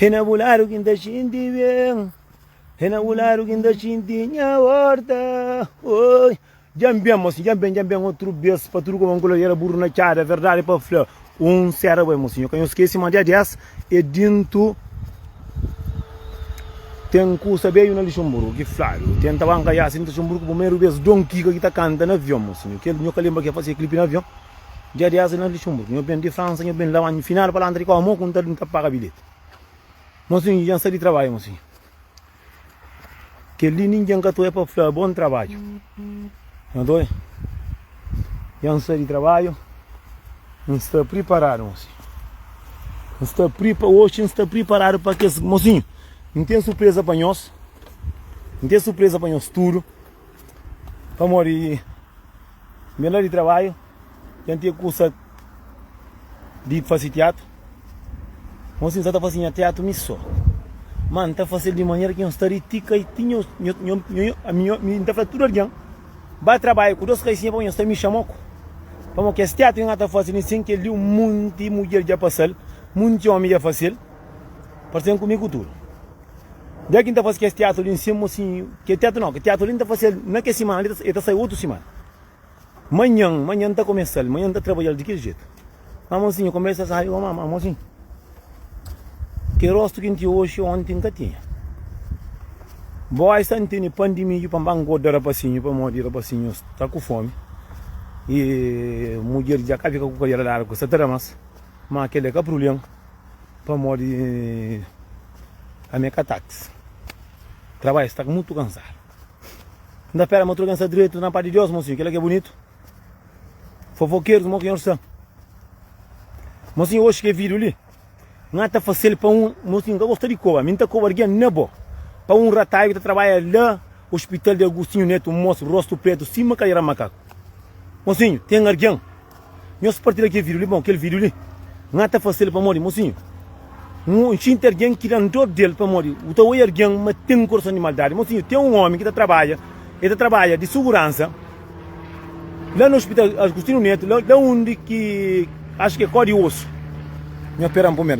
É na bu ladu ki N ta xinti ben É na bu ladu ki N ta xinti nha orta Oi Dja N ben mosinhu, dja N ben, dja N ben utru bes Pa tudu kuma N kula era burru na txada Verdadi pa fla, un sera bo é mosinhu Ka nho skese ma dia 10 é dintu Ten kusa beju na Luxemburgu ki fladu Tenta banka jasi N ta Luxemburgu primeru bes Don Kika ki ta kanta na avion mosinhu Kel, nho ka lenbra kel Fazia klipi na avion. Dia di asa na Luxemburgo, nho ben di Fransa, nho ben Lamanha, final pa la antrikô, amô ku ntadu nta paga bilheti. Mosinho, nho djan sa di trabadja, mosinho. Kel li nindjan ka ta oi pa fla bon trabadju. Nho ta oi. Djan sa di trabadju, nsta priparadu, mosinho. Nsta pripa, oxi nsta priparadu pa kes, mosinho, ntem surpresa pa nhos, ntem surpresa pa nhos tudu, pamodi. Nben la di trabadju, dja N tinha kusa di fase tiatru. Mon si N sa ta fase nha tiatru mi so. Má N ta fase-l di manera ki N sta di ti kai ti. N ta fla tudu algen ba trabadja ku dôs kaisinha pamodi nhos ta mi xama ku. Pamodi kes tiatru ki N ka ta fase li sen kel-li, monti mudjer dja pasa-l, monti ómi dja fase-l. Parse N kume ku tudu. Dja ki n ta fase kes tiatu li nsin mosinhu. Ke tiatu nau, ke tiatu li n ta fasel na ke simana li, e ta sai otu simana. Manhan, manhan n ta komesal, manhan n ta trabadjal di kel jetu. Ma mosinhu, konbersa sabi goma, ma mosinhu, ke rostu ki n tinha oxi, onti n ka tinha. Boi sta n tene pan di midju pa n ba ngoda rapasinhu, pamodi rapasinhu sta ku fomi. E mudjer dja ka fika ku kalhera largu, sa ta da mas, ma kel la ka prubléma. Pamodi ami é ka táxi Trabalha sta mutu kansadu N ta pera ma tudu ken sta dretu na pa di Deus Mosinhu, kel-la ki é bunitu Fofokerus mo ki nhos sta Mosinhu, oxi ki é vídiu li N ka ta fase-l pa un Mosinhu, N ka gosta di koba Mi N ta koba algen na bo Pa un rataiu ki ta trabadja la Ospital di Agustinhu Netu Un mosu rostu pretu sima kaleira makaku Mosinhu, ten algen. Nhos partilha kel video li bom kel video li nha ta fasil pamodi mosinhu nhu xinti argen ki dan dor del pamodi u ta oi argen ma ten korason di maldadi mosinhu ten un omi ki ta trabadja e ta trabadja di suguransa la na hospital agustinu neto la undi ki acho ki e kodi osu nha peran pumer.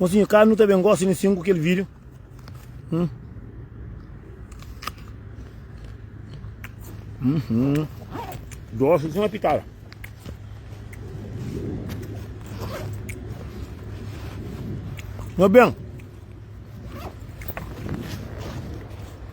Mosinho ka nu ta ben gosi ne sin ku kel video hum uhum dosi sima pitada meu ben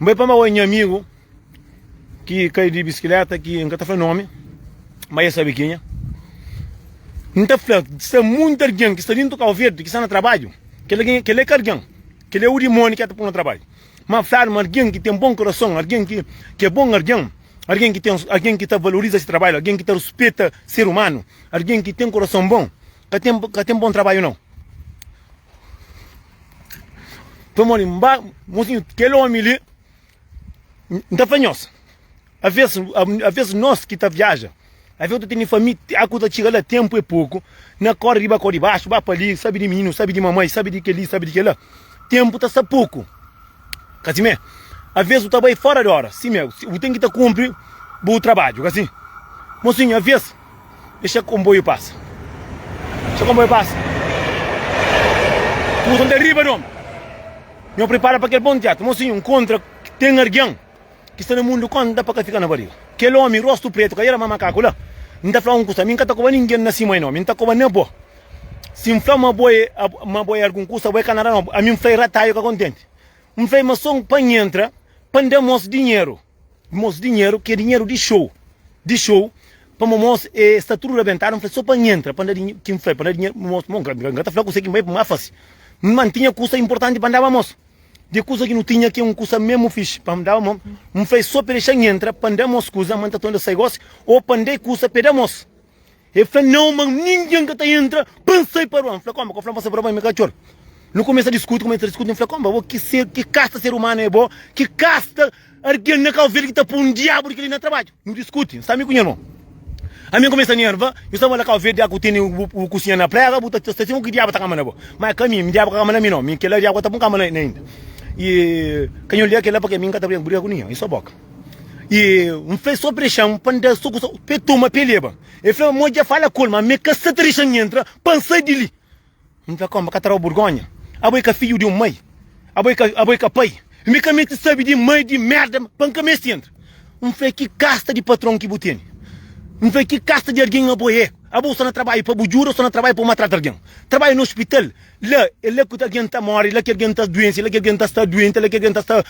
N bai pamaba un nha amigu ki kai di biskileta ki N ka ta fla nomi, ma e sabe kenha. N ta fla, sta munta algen ki sta dintu Kau Verdi ki sta na trabadju, kel algen, kel la e ka algen, kel la e u dimoni ki e ta pô na trabadju. Ma N fladu ma algen ki ten bon kurason, algen ki ki e bon algen, algen ki ten, algen ki ta valoriza si trabadju, algen ki ta ruspeta ser umanu, algen ki ten kurason bon, Ka tem ka tem bom trabalho não. Foi mole, mba, mocinho, aquele homem ali, não foi nós. Às vezes, às vezes nós que tá viaja, às vezes tu tem família, a coisa chega lá, tempo é pouco, na corre riba, corre baixo, vai para ali, sabe de menino, sabe de mamãe, sabe de que ali, sabe de que lá. Tempo tá só pouco. Casimé, às vezes tu tá bem fora de hora, sim, meu, tu tem que tá cumprir o trabalho, assim. Mocinho, às vezes, Dexa konboiu pasa. Dexa konboiu pasa. Nhu son ta riba dom. Nhu pripara pa kel bon tiatu. Mosi nhu nkontra ki ten argen ki sta na mundu konta pa ka fika na bariga. Kel omi rostu pretu ka era ma makaku la. N ta fla un kusa, mi n ka ta koba ningen na sima e no. Mi n ta koba na bo. Si n fla ma bo e ma bo e algun kusa, bo e ka na da no. Ami n fla e rataiu ka kontenti. N fla e ma son pa N entra pa N da mos dinheru. Mos dinheru ki é dinheru di xou di xou pamo mos e sta tudu rabentadu nfla so pa nhentra pa nda dinhe ki nfla pa nda dinheru mos mo nka ta fla kuse ki nbai nfasi nmantinha kusa inportanti pa ndaba mos di kusa ki nu tinha ki é un kusa mesmu fixi pa ndaba mos nfla e so pa dexa nhentra pa nda mos kusa ma nta tonda sai gosi o pa nda e kusa pa e da mos El fla, Nãu, ma ningen ka ta entra pa N sai pa rua. N fla, Kónba? Ka bu fla-m pa sai pa rua, ba mi katxor? Nu kumesa diskuti, kumesa diskuti. N fla, Kónba? Bo, ki ser, ki kasta ser umanu é bo? Ki kasta algen na Kau Verdi ki ta poi un diabu di kel-li na trabadju? Nu diskuti. N sta mi ku nha irmon. Ami N kumesa nerva. Nu sta bala, Kau Verdi, ya ku tene bu kusinha na prega, bu ta sta sima ku diabu ta kama na bo. Má é ka mi, mi diabu ka kama na mi nau. Mi, kel-la, diabu ka ta poi-m kama na el inda. I ka nha odja kel-la, pamodi ami N ka ta briga ku ninhun. I so boka. E N fla el, Sobe pa dexan-m pa N da-l soku sô, pa el toma, pa el leba. El fla, Mo dja fala ku el, má mi ka sta ta dexa-m entra pa N sai di li. N fla, Kónde, bu ka ta daba burgónha? Abo é ka fidju di un mai? Abo é ka, abo é ka pai? Mi ka meste sabe di mai, di mérda, pa N ka meste entra. N fla, Ki kasta di patron ki bu tene? N fla, Ki kasta di algen abo é? Abo sô na trabadja pa bu djuda ô sô na trabadja pa bu matrata algen? Trabadja na ospital? La, é la ki algen ta móre, é la ki algen ta duense, é la ki algen ta sta duenti, é la ki algen ta sta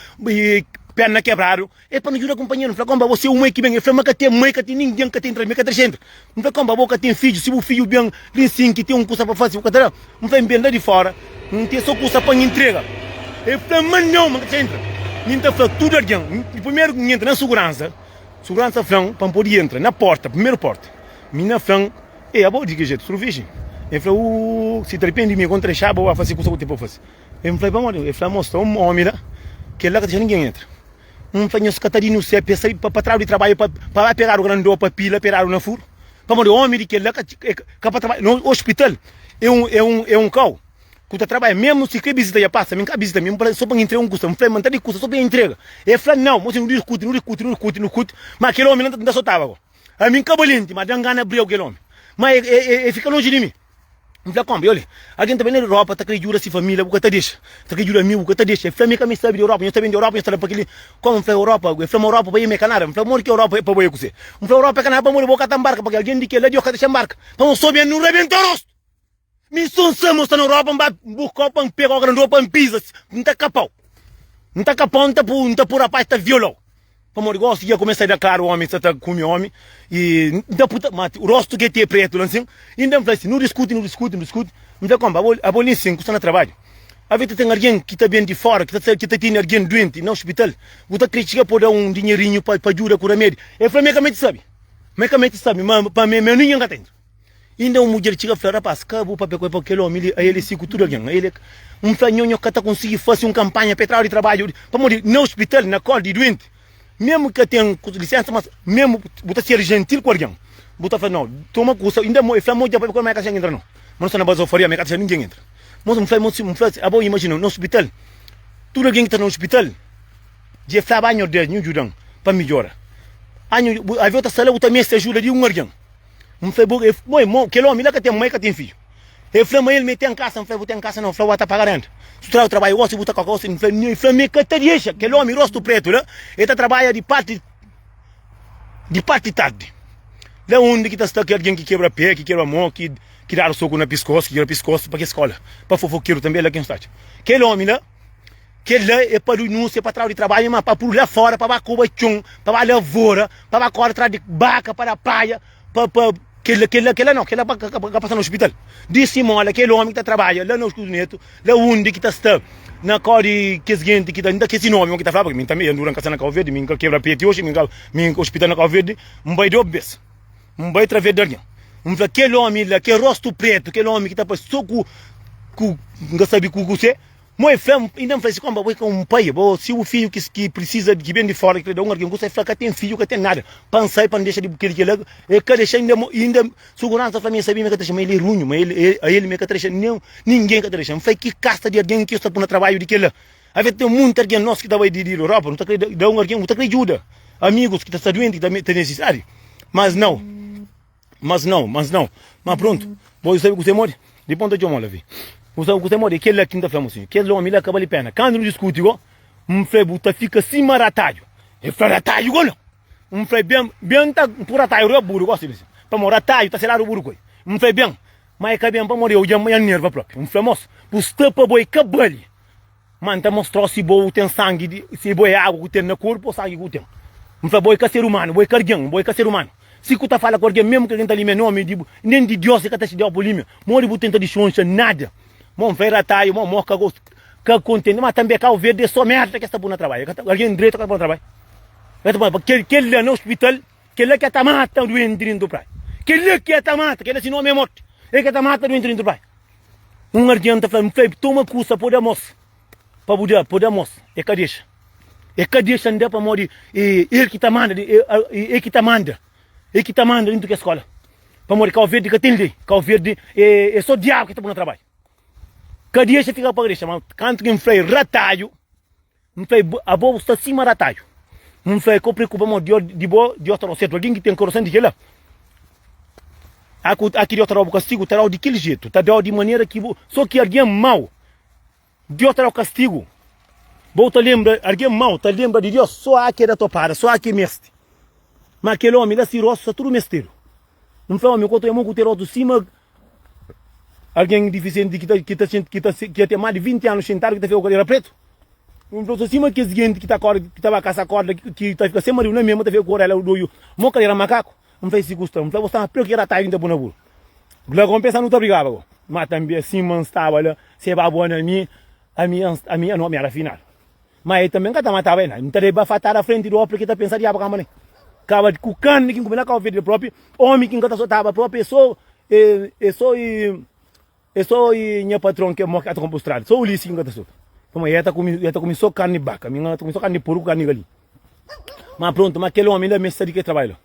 péna kebradu. E pa nu djuda kunpanheru, nu fla, Kónba bo se umai ki ben? El fla, Má ka ten mai, ka ten ningen, ka ten trabadju, mi ka ta dexa entra. N fla, Kónba bo ka ten fidju? Si bu fidju ben li N sinti, ten un kusa pa faze, bu ka ta da? N fla, N ben la di fóra, N ten sô kusa pa N intrega. El fla, Má nau, mi ka ta dexa entra. Mi N ta fla tudu algen, di primeru ki N entra na suguransa, suguransa fla-m pa N pode intra na pórta, primeru pórta, mi na fla-m Ê, abo di ki jetu? Suru virgin? Ê fla, Uuh, si ta ripendi mi, kon trexa abo, abo a fase kusa ku ten pa fase. Ê fla, Pamodi abo? Ê fla, Mos, ta un omi la, kel la ka ta dexa ningen entra. N fla, Nhos ka ta di nu se pesa li pa tradu di trabadju pa pa ba pegadu grandô, pa pila pegadu na furu? Pamodi omi di kel la ka ka pa trabadja na un ospital. Ê un, ê un, ê un kau ku ta trabadja, mesmu si kre bizita ja pasa mi, n ka bizita mi, so pa N intrega un kusa. N fla, N ta di kusa so pa N intrega. Ê fla, Nau, mos nu diskuti, nu diskuti, nu diskuti, nu diskuti, ma kel omi la n ta sotaba. Ami nka balenti, ma dan gana briau kel omi. Ma e e e fika lonji di mi. N fla kombi, Olha, algin ta ben di Europa ta kre djuda si família, bu ka ta dexa. Ta kre djuda ami, bu ka ta dexa. El fla mi, Ka mi sabi di Europa, nhos ta ben di Europa, nhos ta da pa kel-li. Komu? N fla, Europa? El fla ma Europa pa bai, ma e ka nada. N fla, Modi ki Europa e pa bai, e kuzê? N fla, Europa e ka nada pamodi bo ka ta nbarka, pabia algin di kel la, Deus ka dexa nbarka. Pamodi so ben, nu rebenta rostu. Mi so n sa mo sta na europa n ba n bu kau pa n pegau grandô pa n piza n ta kapau n ta kapau n ta pu n ta pu rapaz ta violau pamodi gosi dja kumesa da klaru omi sa ta kumi omi y n ta puta ma rostu ke te pretu la nsin y n ben fla si nu diskuti nu diskuti nu diskuti mi fla konpa abo abo li nsin ku sta na trabadju ave ta ten argen ki ta ben di fora ki ta sa ki ta tene argen duenti na ospital bu ta kre txiga pa bu da un dinherinhu pa pa djuda ku ramedi el fla ma e ka meti sabi ma e ka meti sabi ma pa mi mi aninha n ka ten Inda un mudjer txiga fla, Rapás, ka bu pâpia ku el, pâpia ku kel ómi li, ael é si ku tudu algen. Ael é. N fla nho, nho ka ta konsigi fase un kanpanha pa e trau di trabadju, pamodi na ospital, na kól di duenti, memu ka ten lisénsa. Mas memu bu ta ser jentil ku algen, bu ta fla, Nau, toma kusa. Inda el fla, Mo dja pâpia ku el, ma el ka ta dexan intra, nau. Mas N sta na bazofaria, ma el ka ta dexan ningen intra. Mas N fla, N fla, Abo imajina, na ospital, tudu algen ki ta na ospital dja é flaba, Anho, Deus, nhu djuda-m pa midjora. Anho, bu, alvês bu ta sta la, bu ta meste ajuda di un algen. N fla, Bo e mo, kel omi la ka ten mai, ka ten fidju? El fla, Ma el mê ten kasa. N fla, Bu ten kasa? Nau. N fla, Wa ta paga renta. Si bu tra, bu trabalha gosi, bu ta koka gosi. N fla, Nhoi. Fla, Mi ka ta dexa. Kel omi rostu pretu la, el ta trabalha di parti di parti di tardi. La undi ki ta sta kel algen ki kebra pé, ki kebra mô, ki dadu soku na piskosu, ki kebra piskosu, pa kes skola, pa fofokeru tanbê, la ki N sta dja. Kel omi la. Kel-la é pa dunúnsia, pa trau di trabadju, má pa pul-u la fóra, pa ba koba txon, pa ba lavora, pa ba kóre tras di baka, pa da paja, pa, pa, kel-la, kel-la, kel-la nau, kel-la pa ka pasa na ospital. Di simóla kel ómi ki ta trabadja la na Ospital di Netu, la undi ki ta sta, na kau di kes genti ki ta, N ta kese nomi mon ki ta fla, paske mi tanbe, N dura N ka sta na Kauverdi, mi N ka kebra peti oxi, mi N ka, mi, ospital na Kauverdi, N bai dôs bes. N bai través di algen. N fla, Kel ómi la, kel róstu prétu, kel ómi ki ta parse sô ku, ku N ka sabe ku kuzê. Mon el fla-m, inda N fla si, Kónba, bo é ka un pai? Bo, si bu fidju ki, ki precisa, ki ben di fóra, ki ta da un algen kusa, el fla, Ka ten fidju, ka ten nada, pa N sai, pa N dexa di bu kel-li, kel-la. El ka dexa inda, mo, inda suguransa fla-m, el sabia ma el ka ta dexa, ma el é runhu, ma el, el, a el mi el ka ta dexa, nen ningen ka ta dexa. N fla, Ki kasta di algen ki yo sta pô na trabadju di kel-la? Avê ten munti argen nos ki ta bai di Europa, nu ta krê da un argen, nu ta krê djuda amigus ki ta sta duenti, ki ta nesisitadi. Mas nau, mas nau, mas nau. Má prontu, bo dja sabe kuse modi? Di ponta txoma la vi. Bu sabe kuse modi? É kel-la ki N ta fla-bu sin, kes ómi la ka bali péna. Kandu nu diskuti go, N fla-i bu ta fika sima rataju. El fla, Rataju go la? N fla-i, Ben, ben, N ta pui rataju riba buru gosi li sin, pamodi rataju ta seladu buru ku el. N fla-i, Ben, má el ka ben pamodi eu dja N nerva própi. N fla, Mos, bu sta pa bo, el ka bali. Ma N ta mostra-u si bo ten sangi di. Si bo é agu ku ten na korpu ô sangi ku ten. N fla, Bo é ka ser umanu, bo é ka argen, bo é ka ser umanu. Si ku ta fala ku argen, mésmu ki argen ta limia nómi di bo, nen di Diós i ka ta xinti-u pa bu limia. Modi bu tenta dixonxa nada. Mon fla, E rataia, mon amor, ka gosta, ka kontenti. Ma tanbe Kau Verdi é sô mérda ki es ta pô na trabadju. El ka ta, argen dretu ka ta pô na trabadju. El ta pô na trabadju. Kel, kel la na ospital, kel la ki el ta mata duenti di dentru di praia. Kel la ki el ta mata, kel la si nómi é morti. El ki el ta mata duenti di dentru di praia. Un argen ta fla-l, N fla-i bu, toma kusa pô-l da mos, pa bu da, pô-l da mos. El ka dexa. El ka dexa-m da pamodi é el ki ta manda, é el ki ta manda, é el ki ta manda dentu kes skola. Pamodi Kau Verdi ka ten lei, Kau Verdi é, é sô diabu ki ta pô na trabadju. Ka dexa, fika pa ka dexa. Má kantu ki N fla-i, Ratadju! N fla e, Abo bu sta sima rataju. N fla e, Ka bu preokupa ma Dios di bo Dios ta dau sertu. Algin ki ten korason di kila, aku aki Dios ta dau bu kastigu, ta dau di kil jetu, ta dau di manera ki bu. So ki algin mau Dios ta dau kastigu. Bo ta lembra, algin mau ta lembra di Dios so aki e da topada, so aki e mesti. Ma kel omi la si rostu sta tudu mestedu. N fla, Omi, ku otu e mon ku te rostu sima. Algen difisienti ki ta fia ten más di vinti anu xintadu, ki ta fia ku kadera pretu? Un profesor sima kes jinti ki ta ba kasa korda, ki ta fika sen maridu na mia, ma ta fika ku orela doiu, mo kadera makaku? N fla, E si ku sta. N fla, Bo staba pretu ki era atadu ki N ta bu na buru. Glagon pensa, Nu ta brigaba gau. Ma tanbê, sima N staba la, se ba bo na mi, ami ami ami ami éra finadu. Ma el tanbe n ka ta mataba el. N ta da-l bafatada afrenti di opi, ki ta pensa diabu kanba ne kaba di ku karni ki n kume na kau fedi. Propi omi ki n ka ta sotaba, propi e so e so e so e nha patron ke mo ki ata konpo strada. So Ulisi ki n ka ta sota. Kuma el ta kumi el ta kumi so karni di baka, mi n ta kumi so karni di puru ku karni di galinha. Ma prontu, ma kel omi inda meste sa di kel trabalhu la.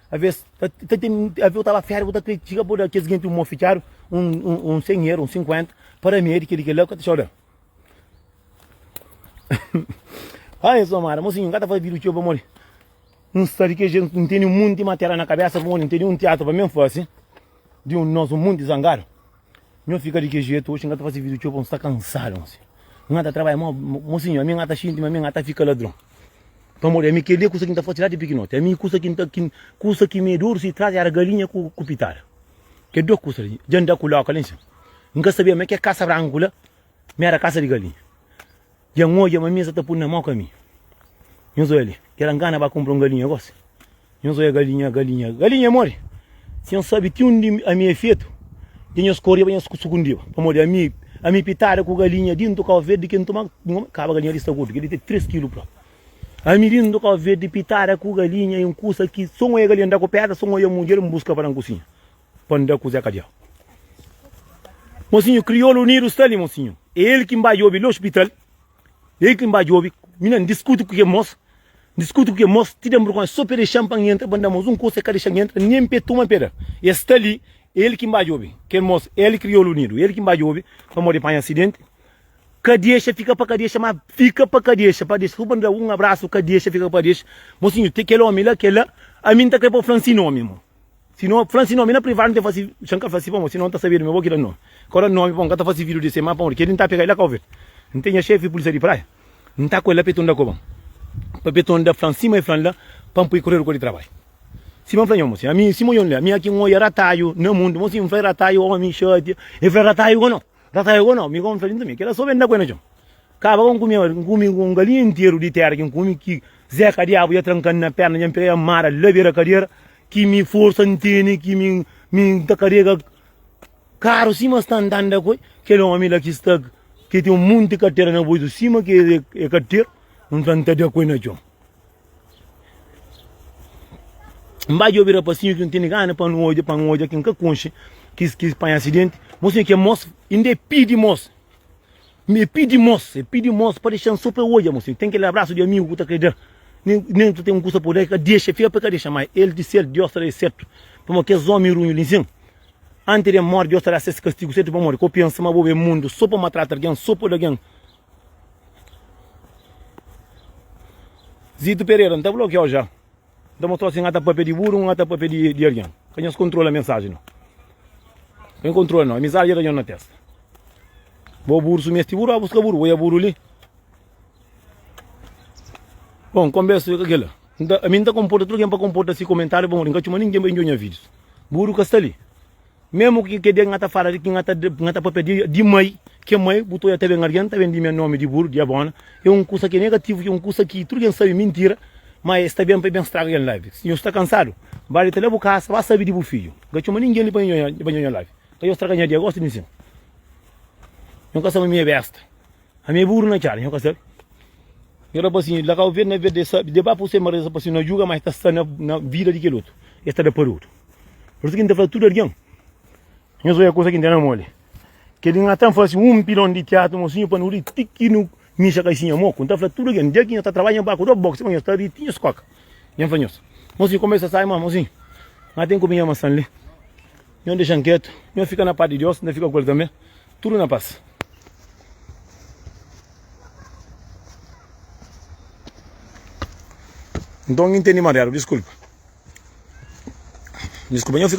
Aves ta ten aves u ta ba férias u ta kritika bo da kes genti un mofitiadu un sen ero un sinkuenta para mi é di kel li kel la u ka ta txau da-m ha nhas mamada mosinhu n ka ta faze vida txeu pamodi n sta di kel jetu n tene un monti matera na kabesa pamodi n tene un tiatru pa mi n fase di un nos un monti zangadu. Nho fika di ki jetu oxi nga ta fase video txeu pa un sta kansadu nho si nga ta trabalha ma mo si nho ami nga ta xinti ma ami nga ta fika ladron pamo di ami keli e kusa ki nta fase la di pikinoti ami kusa ki nta ki kusa ki me duru si tras era galinha ku ku pitada ke do kusa li dja nda ku loka li nxen nka sabia ma ke kasa branku la ma era kasa di galinha Dja N odja ma mi sa ta pui na mau kami. Nhos oi ali, ki éra N gana ba kunpra un galinha gosi. Nhos oi galinha, galinha, galinha é modi? Si nhos sabe ti undi ami é fetu, dja nhos koriba, nhos sukundiba. Pamodi ami, ami pitada ku galinha dintu kau verdi ki N tuma, kaba galinha li sta gordu, kel li ten três kilu pra. Ami dintu kau verdi pitada ku galinha, é un kusa ki so N oi galinha N da ku pédra, so N oi mudjer N buska pa da N kusinha. pa nda ku Zé Kadiá. Monsinhu Kriolu Unidu sta li, monsinhu. É el ki N ba djobe li ospital, é el ki N ba djobe. Mi na N diskuti ku kel mos, N diskuti ku kel mos ti den burkon, é so pa e dexa-m pa N entra, pa N da-m un kusa, el ka dexa-m entra nen pa e tuma peda. El sta li, é el ki N ba djobe, kel mos, el Kriolu Unidu, é el ki N ba djobe pamodi panha asidenti. Ka dexa fika pa ka dexa, má fika pa ka dexa, pa dexa, so pa N da-u un abrasu, ka dexa fika pa ka dexa. Monsinhu, ten kel ómi la, kel la, ami N ta krê pa bu fla-m si nómi, mon. Si no fla-m si nomi na privadu, N ta fasi Xan ka fla si pamodi sinon N ta sabia di mi bo ki da nomi Ka da nomi pamodi N ka ta fasi vidu di se má pamodi kel-li N ta pega-l la ka obi-l N ten nha xefi pulisia di praia N ta ku el la peton da koba-m Pa peton da fla-m sima el fla-m la Pa-m poi korredu kua di trabaiu Sima N fla nha mo si ami sima N fla ami aki N oia rataiu na mundu Mo si N fla rataiu omi xatia El fla rataiu ka no. Tá sai ago nau, mi kome farinha tanbe, kela so ben da ku e na txon. Kaba ka N kume oji, N kume ku un galinha interu di tera ki N kume, ki Zé Kadiabu dja tranka-m na perna, dja N pega-i amara la bera kadera, ki mi forsa N tene, ki mi mi N ta karega karu sima sta andanda ku el, kel omi la ki sta, ki ten un monti katera na boitu sima ki e e kateru, N fla N ta da ku e na txon. N ba djobe rapasinhu ki N tene gana pa N odja, pa N odja ki N ka konxe ki ki panha asidenti. Bo sibi ke mos inda e pidi mos, e pidi mos, e pidi mos pa dexa-m so pa e odja. Bo sibi ten kel abrasu di amigu ku ta kre da, nen nen ku ta ten un kusa pa da, e ka dexa, e fika pa e ka dexa mai. El di sel, Diós ta da es sertu, pamodi kes omi runhu li nsin, anti de morri, Diós ta da ses kastigu sertu. Pamodi ka bu pensa ma bo ben mundu so pa matrata algen, so pa oda algen? Zito Pereira, N ta blokiau ja. N ta mostrau si N ata papia di buru o N ata papia di algen. Ka nhos kontrola mensaji no. Ka nhos kontrola no. Amizadi dja da nhos na testa. Bo buru su mesti buru, ba buska buru. Bo ya buru li. Bon, konbersa yo ka kila. Ami N ta konporta tudu algen pa konporta si komentariu pamodi N ka txoma ningen pa injo nha vidius. Buru ka sta li. Memu ki ke dia ki N ta fala di ki N ta N ta papia di di mai, ke mai bu ta oja ta ben algen ta ben di me nomi di buru, di abona, e un kusa ki e negativu, ki e un kusa ki tudu algen sabi e mintira, ma e sta ben pa e ben straga algen lavi. Si nhos sta kansadu, ba dita la bu kasa, ba sabi di bu fiju. N ka coma ningen li pa nhe pa nhe oja lavi. Ka nhos straga nha dia gosi di nsin. Nhos ka sa ma mi e besta. A mi é buru na txada, nho ka sabe. Nho da bo asin, La kau verde na verde es sabe, deba puse ma reza pa si no djuga ma es ta sta na vida di kel otu, es ta da pa otu. Pur isu ki N ta fla tudu algen, Nho zoia kusa ki N tene moli. Kel di ngata N fase un pilon di tiatu mosinhu pa nu ri ti ki nu mixa kaisinha moku. N ta fla tudu algen, dja ki nho ta trabadja N ba ku do boksi pa nhos ta ri ti nhos koka. Dja N fla nhos, Mosinhu, koma es ta sai ma, mosinhu, ngata ten kobinha massan li. Nho dexa nketu, nho fika na pas di Dios, nta fika ku el tanbe, tudu na pas. Nton, N intendi mariadu, diskulpa. Diskulpa.